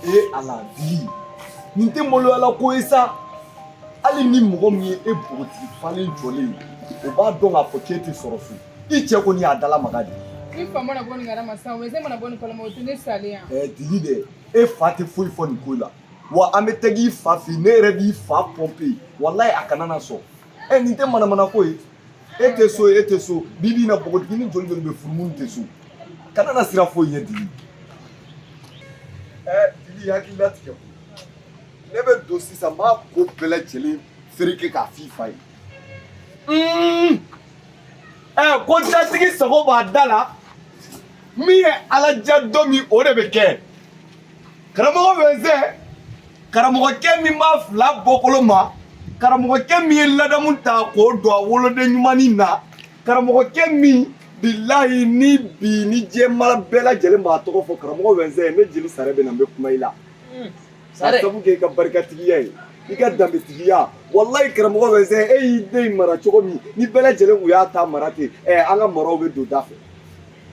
ee ala dili nin tɛ maloyala ko ye sa hali ni mɔgɔ min ye e bogotigi falen jɔlen ye o b'a dɔn k'a fɔ k'e tɛ sɔrɔ so i cɛ kɔni y'a dala maga de n'i fa mana bɔ nin kalama sisan wɛnsɛn mana bɔ nin kalama o tɛ ne salen yan. ɛɛ dili dɛ e fa tɛ foyi fɔ nin ko la wa an bɛ tag'i fa fɛ yen ne yɛrɛ b'i fa pɔnpe walayi a kana na sɔn. ɛ nin tɛ manamana ko ye e tɛ so e tɛ so bi bi in na npogotigini joli joli bɛ furu minnu tɛ so kana na siran foyi ɲɛ dili ɛ dili hakili latigɛ ko ne bɛ don sisan n b'a ko bɛɛ lajɛlen fereke k'a f'i fa ye ɛ ko datigi sago b'a da la min ye ala diya don min o de bɛ kɛ karamɔgɔ wɛnsɛn karamɔgɔkɛ min b'a fila bɔkolo ma karamɔgɔkɛ min ye ladamu ta k'o don a woloden ɲumannin na karamɔgɔkɛ min bilahi ni bi ni jamana bɛɛ lajɛlen b'a tɔgɔ fɔ karamɔgɔ wɛnsɛn ne jeli sare bɛ na n bɛ kuma i la hmm. k'a sabu kɛ i ka barikatigiya ye i ka danbetigiya walayi karamɔgɔ wɛnsɛn e y'i den mara cogo min ni bɛɛ lajɛlen kun y'a ta mara ten ɛ an ka maraw bɛ don da fɛ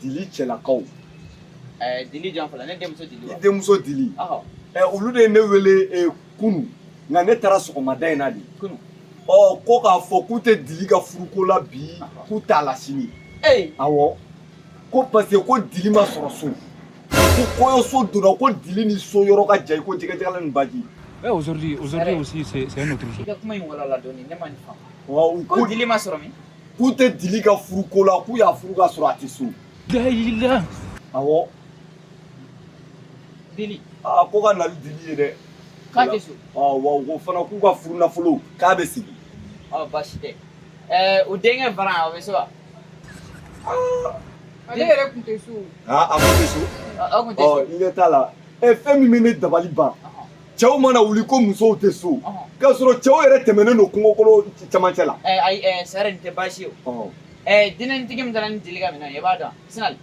dili cɛlakaw eh, dili jɔn fɔlɔ ne denmuso dili wa i denmuso dili ɔhɔ ɛ eh, olu de ye ne wele ɛ eh, kunu nka ne taara sɔgɔmada in na de kunu ɔ oh, ko k'a fɔ k'u tɛ dili ka furuko la bi k'u t'a la sini ee awɔ ko parce que ko dili ma sɔrɔ so ko kɔɲɔso donna ko dili ni so yɔrɔ ka jan i ko jɛgɛ jalan ni baji ɛ aujourd'hui aujourd'hui aussi c'est c'est un autre jour i ka kuma in walawala dɔɔni ne ma nin faamu ko dili ma sɔrɔ min k'u tɛ dili ka furuko la k'u y'a furu ka sɔrɔ a tɛ so dayila awɔ dili aa ko ka na ni dili ye dɛ k'a tɛ so ɔ wa ko fana k'u ka furu nafolo k'a bɛ segin ɔ baasi tɛ ɛɛ o denkɛ faran o bɛ so wa ale yɛrɛ tun tɛ so aa a kun tɛ so Ɔ, aw tun tɛ so ɔ i ɲɛ t'a la ɛ fɛn min bɛ ne dabali ban cɛw mana wuli ko musow tɛ so k'a sɔrɔ cɛw yɛrɛ tɛmɛnen don kungokolo cɛmancɛ la eh, ayi eh, sare nin tɛ baasi ye o eh, dinɛnitigi min taara ni dili ka minɛn ye i b'a dɔn sinali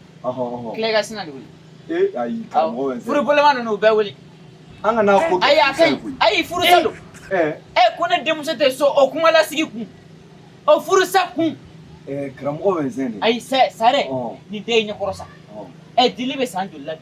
tile ka sinali wuli furuboloma ninnu bɛɛ wuli an kana ko ayi a ka ɲi ayi furusa don ɛ ko ne denmuso tɛ so o kuma lasigi kun o furusa kun karamɔgɔ wɛnsɛn dɛ ayi sɛ sare nin den ye ɲɛkɔrɔ sa ɛ dili bɛ san joli la bi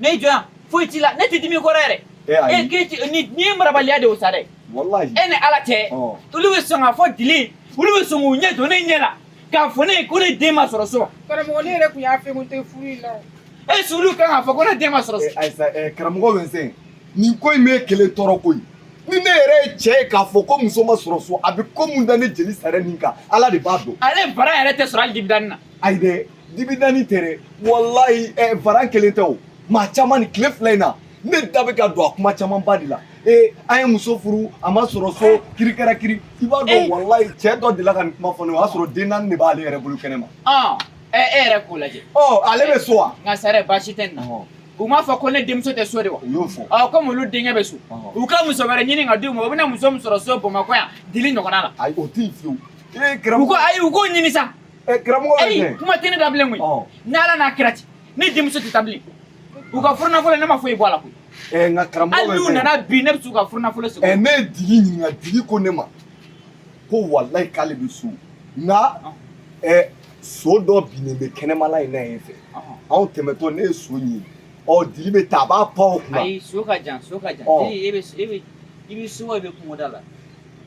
ne jɔn foyi t'i la ne tɛ dimi i kɔrɔ yɛrɛ e ayi e k'e ti ni n'i ye marabaliya de o sa dɛ wallahi e ni ala cɛ Ɔ. olu bɛ sɔn k'a fɔ dili olu bɛ sɔn k'u ɲɛ jɔ ne ɲɛ la k'a fɔ ne ye ko ne den ma sɔrɔ so karamɔgɔ ne yɛrɛ tun y'a fɛ ko n tɛ furu in la o. est-ce que olu kan k'a fɔ ko ne den ma sɔrɔ Eh, so ayisa eh, karamɔgɔ Vincent nin ko in b'e kelen tɔɔrɔ ko ye ni ne yɛrɛ ye cɛ ye k'a fɔ ko muso ma sɔrɔ so a bɛ ko mun da ne jeli sare nin kan ala de b'a dɔn ale faran yɛrɛ tɛ sɔrɔ hali dibi danni na ayi dɛ dibidani tɛ dɛ walayi ɛ varan kelen tɛ o maa caman nin tile fila in na ne da bɛ ka don a kuma camanba de la ee an ye muso furu a ma sɔrɔ so kiri kɛra kiri i b'a dɔn walayi cɛ dɔ delila ka nin kuma fɔ ne ye o y'a sɔrɔ den naani de b'ale yɛrɛ bolo kɛnɛ ma. ɔn ɛ e yɛrɛ k'o lajɛ. ɔ ale bɛ so wa. nka sare baasi tɛ nin na. u m'a fɔ ko ne denmuso tɛ so de wa. u y'o fɔ. ɔ komi olu denkɛ bɛ so. u ka muso wɛrɛ ɲini ka d'u ma u bɛna muso min sɔrɔ so bamakɔ yan dili ɲɔgɔnna la. ayi o tɛ yen fiyewu. u ko ayi u k'o ɲini sa. Eh, karamɔgɔ wɛnsɛ. kuma tɛ ne da bilen koyi. N'ala n'a kira cɛ ne denmuso tɛ taa bilen. U ka furu nafolo ne ma foyi bɔ a la koyi. Ɛɛ nka karamɔgɔ wɛnsɛ. Hali n'u nana bi ne bɛ se u ka furu nafolo sɔrɔ. Ɛɛ ne ye dili ɲininka dili ko ne ma ko walayi k'ale bɛ so nka ɛɛ so dɔ binnen bɛ kɛnɛmala in na yen fɛ anw tɛmɛtɔ ne ye so ɲini ɔ dili bɛ taa a b'a pan o kunna. ayi so ka jan so ka jan. e bɛ e bɛ i bɛ so wa i bɛ kungoda la.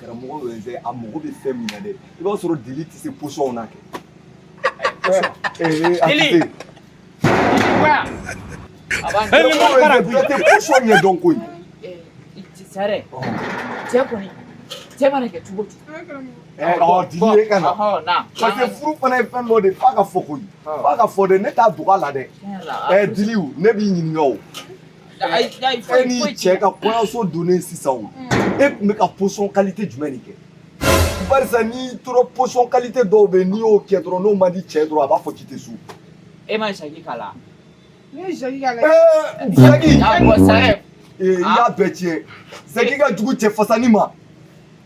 karamɔgɔ wɛnsɛ a mago bɛ fɛn min na dɛ i b'a sɔrɔ dili tɛ se position na kɛ dili tɛ position ɲɛ dɔn koyi sare cɛ kɔni cɛ mana kɛ cogo cogo dili ye ka na parce que furu fana ye fɛn dɔ de f'a ka fɔ koyi f'a ka fɔ dɛ ne t'a dogo a la dɛ dili ne b'i ɲininka o e n'i cɛ ka kɔɲɔso donnen sisan o mm. e tun bɛ ka position qualité jumɛn de kɛ barisa n'i tora position qualité dɔw bɛ n'i y'o kɛ dɔrɔn n'o man di cɛ dɔrɔn a b'a fɔ k'i tɛ so e ma zaki k'a la ne ye zaki k'a la zaki i y'a bɛɛ tiɲɛ zaki ka jugu cɛ fasani ma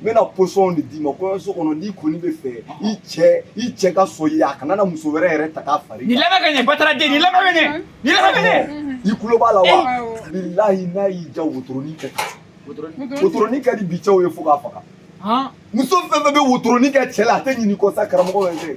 n bɛna position de d'i ma kɔɲɔso kɔnɔ n'i kɔni bɛ fɛ i cɛ i cɛ ka sɔn i ye a kana na muso wɛrɛ yɛrɛ ta k'a fara i kan nin lamɛn ka ɲɛ bataraden nin lamɛn ka ɲɛ nin lamɛn ka ɲɛ i tulo b'a la wa bilahi n'a y'i ja wotoronin kɛ wotoronin ka di bi cɛw ye fo k'a faga muso fɛn fɛn bɛ wotoronin kɛ cɛ la a tɛ ɲinɛ i kɔ sa karamɔgɔ yɛrɛ tɛ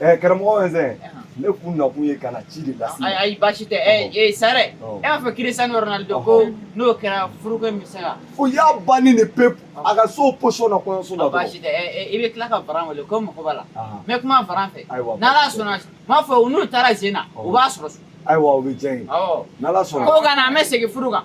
Ɛɛ karamɔgɔ wɛnsɛ ne kun nakun ye ka na ci de lase ayi baasi tɛ ee sare e b'a fɔ Cristiano Ronaldo ko n'o kɛra furuko in bɛ se ka o y'a bannen de pewu a ka so position na kɔɲɔso la baasi tɛ i bɛ tila ka varan wele ko mago b'a la n bɛ kuma varan fɛ n'ala sɔnna n b'a fɔ u n'u taara sen na u b'a sɔrɔ so ayiwa o bɛ diya n ye n'ala sɔnna ko ka na an bɛ segin furu kan